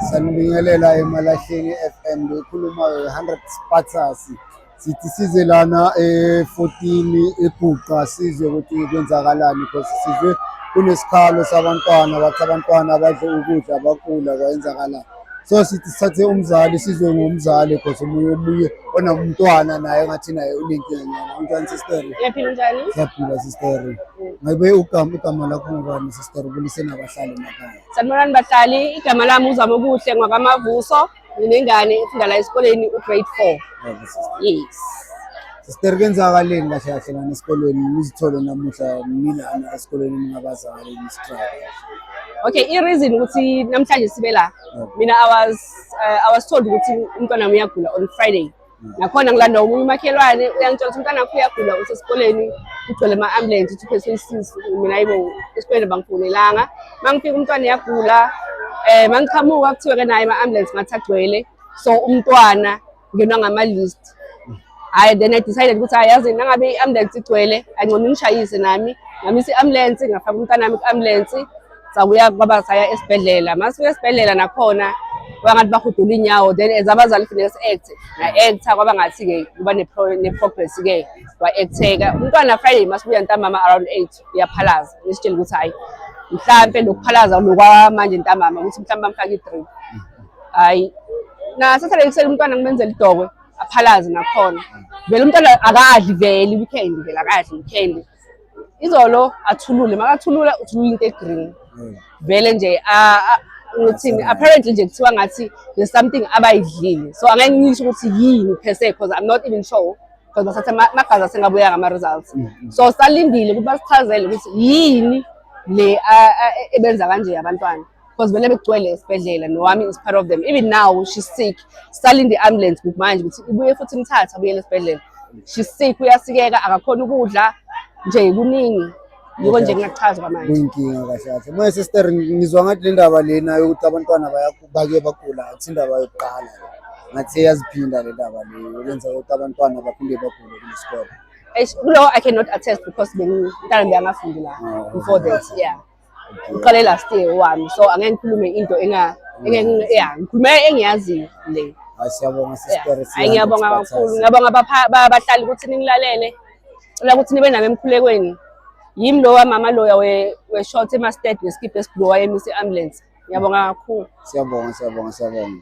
Sanibingelela eMalahleni FM loyikhulumayo i-100 Spartans sithi size lana e-14 eGuqa sizwe ukuthi kwenzakalani because sizwe kunesikhalo sabantwana bathi abantwana badle ukudla bakula kwayenzakalani so sithi sithathe umzali sizwe ngomzali because omunye omunye onamntwana naye ngathi naye unenkinga nyana unjani sisteri Ngiyaphila njani? siyaphila sisteri ngabe ugama igama lakho ngubani Sicela ukuliseni abahlali emakhaya. Sanibonani bahlali, igama lami uZama Okuhle ngwaKaMavuso, nginengane efunda la esikoleni ugrade 4. Yebo, sister. Yes. Sister kwenzakaleni kahle kahle lana esikolweni nizithole namuhla nilana esikolweni ningabazali nistruggle. Okay, i-reason ukuthi namhlanje sibe la. Yebo. Mina I was uh, I was told ukuthi umntwana wami uyagula on Friday. nakhona ngilanda omunye umakhelwane uyangitshela ukuthi umntwana wakho uyagula usesikoleni kugcwele ama-ambulensi ukuthi uphethwe isisu mina yibo esikoleni bangifonelanga uma ngifika umntwana uyagula um eh, uma ngiqhamuka kuthiwe-ke naye ama-ambulensi ngathi agcwele so umntwana ngenwa ngama-list hhayi then i decided ukuthi hayi yazi nangabe i-ambulensi igcwele angcono ngishayise nami ngamisa i-ambulensi ngafaka umntwana wami ku-ambulensi sakuya kwaba saya esibhedlela masifika esibhedlela nakhona kwaba ngathi bahudula inyawo then as abazali kufuneka si-acte nga-acta kwaba ngathi-ke kuba ne-progress-ke wa-acteka umntwana friday masibuya ntambama around eight uyaphalaza ngisitshela ukuthi hhayi mhlampe lokuphalaza lokwamanje ntambama ukuthi mhlawumbe bamfake i-drip hhayi nasathele ekuseni umntwana ngimenzela idokwe aphalaze nakhona vele umntwana akadli vele i-weekend vele akadli i-weekend izolo athulule makathulula uthulula into egreen hmm. vele nje ngithini apparently nje kuthiwa ngathi there's something abayidlile so angeke ngisho ukuthi yini per se because i'm not even sure because basathe magazi asengabuya ngama-results hmm, hmm. so salindile ukuthi basichazele ukuthi yini le ebenza kanje abantwana because vele bekugcwele esibhedlela nowami is part of them even now she's sick salinde i-ambulance kuthi manje ukuthi ibuye futhi imthathe abuyele esibhedlela she's sick uyasikeka akakhona ukudla nje kuningi yiko nje ngingachaza kwamanje kuyinkinga kahle kahle moya sister ngizwa ngathi le ndaba lena yokuthi abantwana baye bagula akuthi indaba yokuqala ngathi yaziphinda le ndaba le yenza ukuthi abantwana baphinde bagule kule sikole kulo i cannot attest because bengintana bengafundela ah, before that yeah uqale last year wami so angeke ngikhulume into enga engeke yeah ngikhulume engiyaziyo le Hayi siyabonga sister Hayi ngiyabonga kakhulu ngiyabonga abahlali ukuthi ningilalele cela ukuthi nibe nami emkhulekweni yimi lo wamama loya we-short emasted ngesikibha esibhuwa emisa i-ambulance ngiyabonga kakhulu siyabonga siyabonga siyabonga